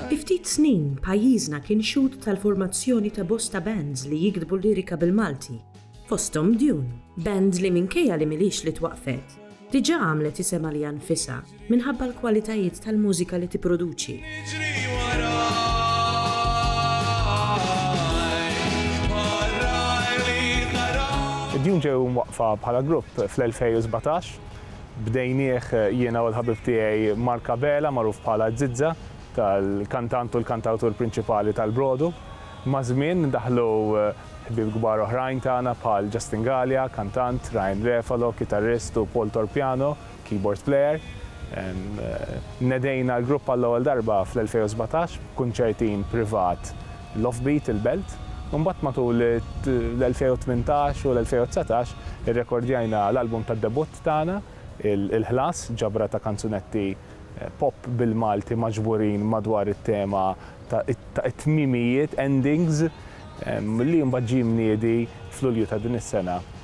Fi ftit snin, pajjiżna kien xhud tal-formazzjoni ta' bosta bands li jiktbu lirika bil-Malti, fosthom Dune, band li minkejja li m'ilhiex li twaqqfet, diġà għamlet isem għaliha nfisha minħabba l-kwalitajiet tal-mużika li tipproduċi. Dune ġew imwaqqfa bħala grupp fl-2017 Bdejnieh jiena u l-ħabib tiegħi Mark Abela magħruf bħala Zizza, tal-kantant u l-kantawtur prinċipali tal-Brodu. Maż-żmien daħlu ħbieb kbar oħrajn tagħna bħal Justin Galea, kantant, Ryan Refalo, kitarrist u Paul Torpiano, keyboard player. Nedejna l-grupp għall-ewwel darba fl-2017 b'kunċertin privat l-Offbeat, il-Belt, u mbagħad matul l-2018 u l-2019 irrekordjajna l-album tad-debutt tagħna, Il-Ħlas, ġabra ta' kanzunetti pop bil-Malti maġburin madwar it-tema ta' it-tmiemijiet, endings, li mbagħad ġie mniedi f'Lulju ta' din is-sena.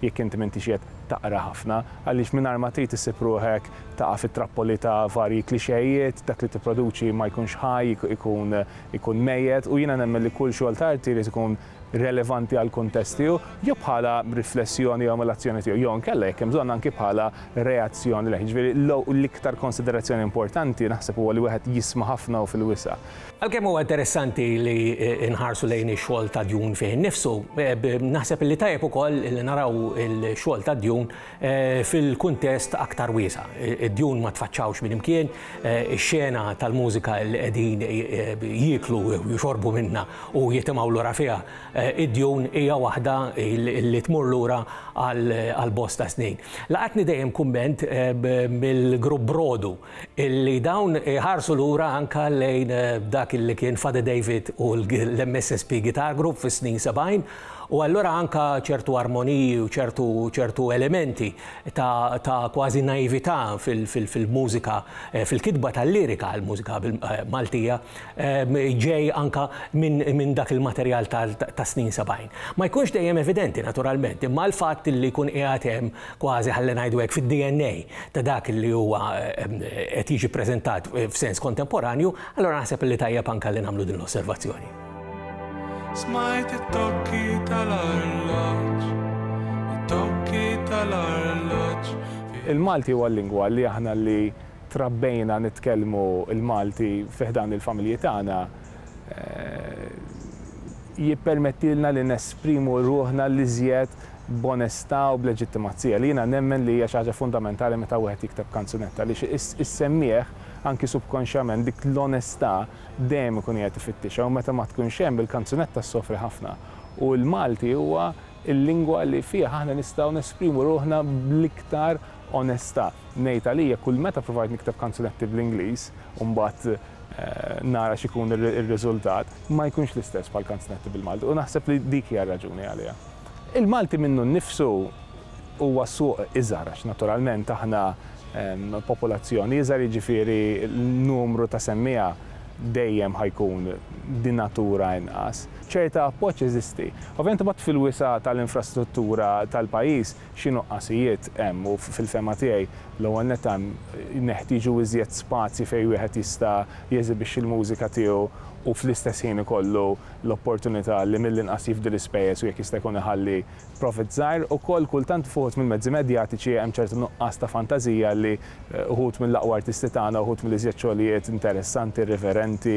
jekk inti m'intix qiegħed taqra ħafna, għaliex mingħajr ma trid issib ruħek taqa' fit-trappoli ta' varji klixejiet, dak li tipproduċi ma jkunx ħaj, ikun ikun mejjet u jiena nemmen li kull xogħol ta' arti jrid ikun relevanti għall-kuntest tiegħu, jew bħala riflessjoni jew emulazzjoni tiegħu, jew inkella jekk hemm bżonn anki bħala reazzjoni lejh. Jiġifieri l-iktar konsiderazzjoni importanti naħseb huwa li wieħed jisma' ħafna u fil-wisa'. Għalkemm huwa interessanti li nħarsu lejn ix-xogħol ta' Dune fih innifsu, naħseb li tajjeb ukoll li naraw il-xogħol ta' Dune eh, fil-kuntest aktar wiesa'. Id-Dune ma tfaċċawx minn imkien, eh, ix-xena tal-mużika li qegħdin eh, jieklu jixorbu minna u jitimgħu lura fiha. Id-Dune hija waħda li tmur lura għal bosta snin. Laqatni dejjem kumment mill-grupp Brodu illi dawn iħarsu lura anke lejn dak li kien Fade David u l-MSSP Guitar Group fis-snin 70 u allura anke ċertu armoniji u ċertu ċertu elementi ta' ta' kważi naività fil fil-mużika fil-kitba tal-lirika għall-mużika Maltija ġej anke minn minn dak il-materjal tas-snin 70. Ma jkunx dejjem evidenti naturalment imma l-fatt illi jkun qiegħed hemm kważi ħalli ngħidu hekk fid-DNA ta' dak li huwa qed jiġi ppreżentat f'sens kontemporanju, allura naħseb li tajjeb anke li nagħmlu din l-osservazzjoni. Smajt it-tokki tal-arloġġ, it-tokki tal-arloġġ. Il-Malti huwa l-lingwa li aħna li trabbejna nitkellmu l-Malti fi ħdan il-familji tagħna, jippermettilna li nesprimu ruħna l-iżjed b'onestà u b'leġittimazzija, li jiena nemmen li hija xi ħaġa fundamentali meta wieħed jikteb kanzunetta, għaliex is-semmiegħ, anki subkonxjament, dik l-onestà dejjem ikun qiegħed ifittixha u meta ma tkunx hemm, il-kanzunetta ssofri ħafna. U l-Malti huwa l-lingwa li fih aħna nistgħu nesprimu ruħna bl-iktar Onesta ngħid għalija kull meta provajt nikteb kanzunetti bl-Ingliż u mbagħad nara x'ikun ir-riżultat, ma jkunx l-istess bħal kanzunetti bil-Malti u naħseb li dik hija r-raġuni għaliha. Il-Malti minnu nnifsu huwa suq iżgħar għax naturalment aħna popolazzjoni iżgħar jiġifieri l-numru ta' semmiegħa dejjem ħa jkun bi natura inqas. Ċerta appoġġ jeżisti. Ovvjament imbagħad fil-wisa' tal-infrastruttura tal-pajjiż, xi nuqqasijiet hemm u fil-fehma tiegħi l-ewwel nett hemm neħtieġu iżjed spazji fejn wieħed jista' jeżibixxi l-mużika tiegħu u fl-istess ħin ikollu l-opportunità li mill-inqas jifdi l-ispejjeż u jekk jista' jkun iħalli profit żgħir. Ukoll kultant f'uħud mill-mezzi medjatiċi hemm ċertu nuqqas ta' fantażija li uħud mill-aqwa artisti tagħna, uħud mill-iżjed xogħlijiet interessanti, irriverenti,